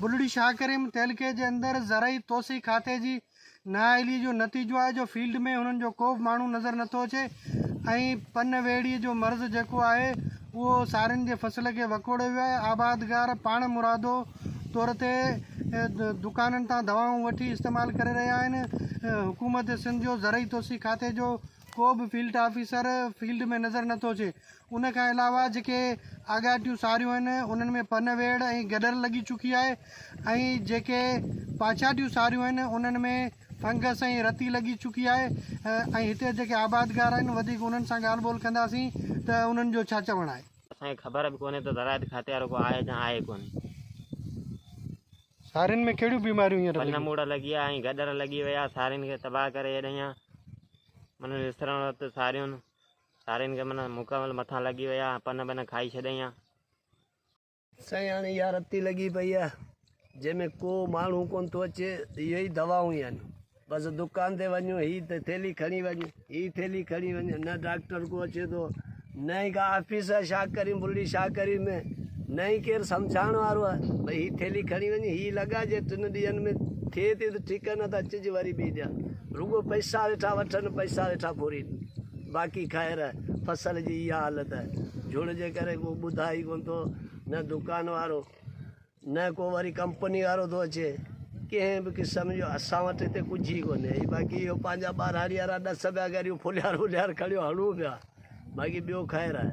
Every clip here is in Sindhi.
بلڙي شاهه ڪريم تعلقي جي اندر زرعي توسيع کاتي جي نااهلي جو نتيجو آهي جو فيلڊ ۾ انهن جو ڪو به ماڻهو نظر نٿو اچي ۽ پن ويڙهي جو مرض جيڪو آهي اهو سارين جي فصل کي وڪوڙيو ويو آهي آبادگار پاڻ مرادو طور تي دڪانن تان دوائون وٺي استعمال ڪري رهيا آهن حڪومت سنڌ جو زرعي توسيع کاتي جو ڪو به فيلڊ آفيسر فيلڊ ۾ نظر نٿو اچي ان کان علاوه جيڪي آڳاٽيون ساريون آهن انهن ۾ پن ويڙهه ۽ گڏر لڳي چڪي آهي ۽ جيڪي پاڇاٽيون ساريون آهن انهن ۾ فنگس ۽ رتي لڳي چڪي آهي ۽ هتي جيڪي آبادگار آهن وڌيڪ انهن سان ڳالهه ٻولهه ڪنداسين ته انهن جو ڇا چوڻ آهي. اسان کي خبر به ڪونهي ته زراعت کاتي وارو ڪو آهي يا آهي ڪونهي. سارين ۾ ڪهڙيون بيماريون هينئر لڳيون. پن موڙ لڳي آهي ۽ گڏر لڳي وئي آهي سارين کي تباهه ڪري ڇڏيائين. من وسرڻ وقت ساريون. سارين کي معنيٰ مڪمل مٿان لڳي ويا ۽ پن بن کائي ڇڏيائين ها. سائين هاڻي اها رتي لڳي پئي آهي جنهن ۾ ڪو ماڻهو ڪونه ٿو اچي اهي ئي دوائون آهن بس دڪان تي وڃ هي ٿيلهي کڻي وڃ هي ٿيلهي کڻي وڃ نه ڊاڪٽر ڪو اچي ٿو نه ئي ڪا آفيس آهي ڇا ڪريون بلڙي ڇا ڪريون ۾ نه ئي ڪير سمجهائڻ وارو آهي ڀئي هي ٿيلهي کڻي وڃ هي لڳا جي ٽن ڏينهن ۾ ٿئي ٿي ته ٺيڪ نه ته اچجي وري ٻي ڏينهن رڳو پئسا ويٺا وٺن پئسا ويٺا ڦورين باقي خير فصل جي اها حالت جهڙ جي ڪري ڪو ٻڌائي ئي ڪونه ٿو نه دڪان وارو نه ڪو وري ڪمپني وارو ٿو اچي ڪنهن به قسم جو اسان وٽ هتي ڪجهه ئي ڪونهي باقي اهو پنهنجا ٻهراڙي وارا ڏس پيا ڪريون ڦليار وليار کڻيو هڻون پيا باقي ٻيو خير آهي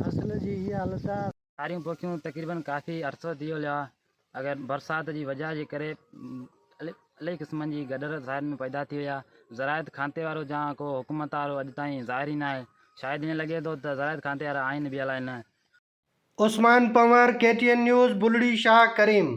فصل جي هي حالت آ. ساريون پوکيون تقريبن ڪافي عرصو ٿي ويو آ اگر برسات جي وجهه جي ڪري الائي قسمن جي گڏر ظاهر ۾ پيدا ٿي وئي آ زراعت کاتي وارو جا ڪو حڪومت وارو اڄ تائين ظاهر ئي نه آهي شايد ائين لڳي ٿو ته زراعت کاتي وارا آهن به الائي نه. Usman Panhwar, K T N news, Bulri Shah ڪريم.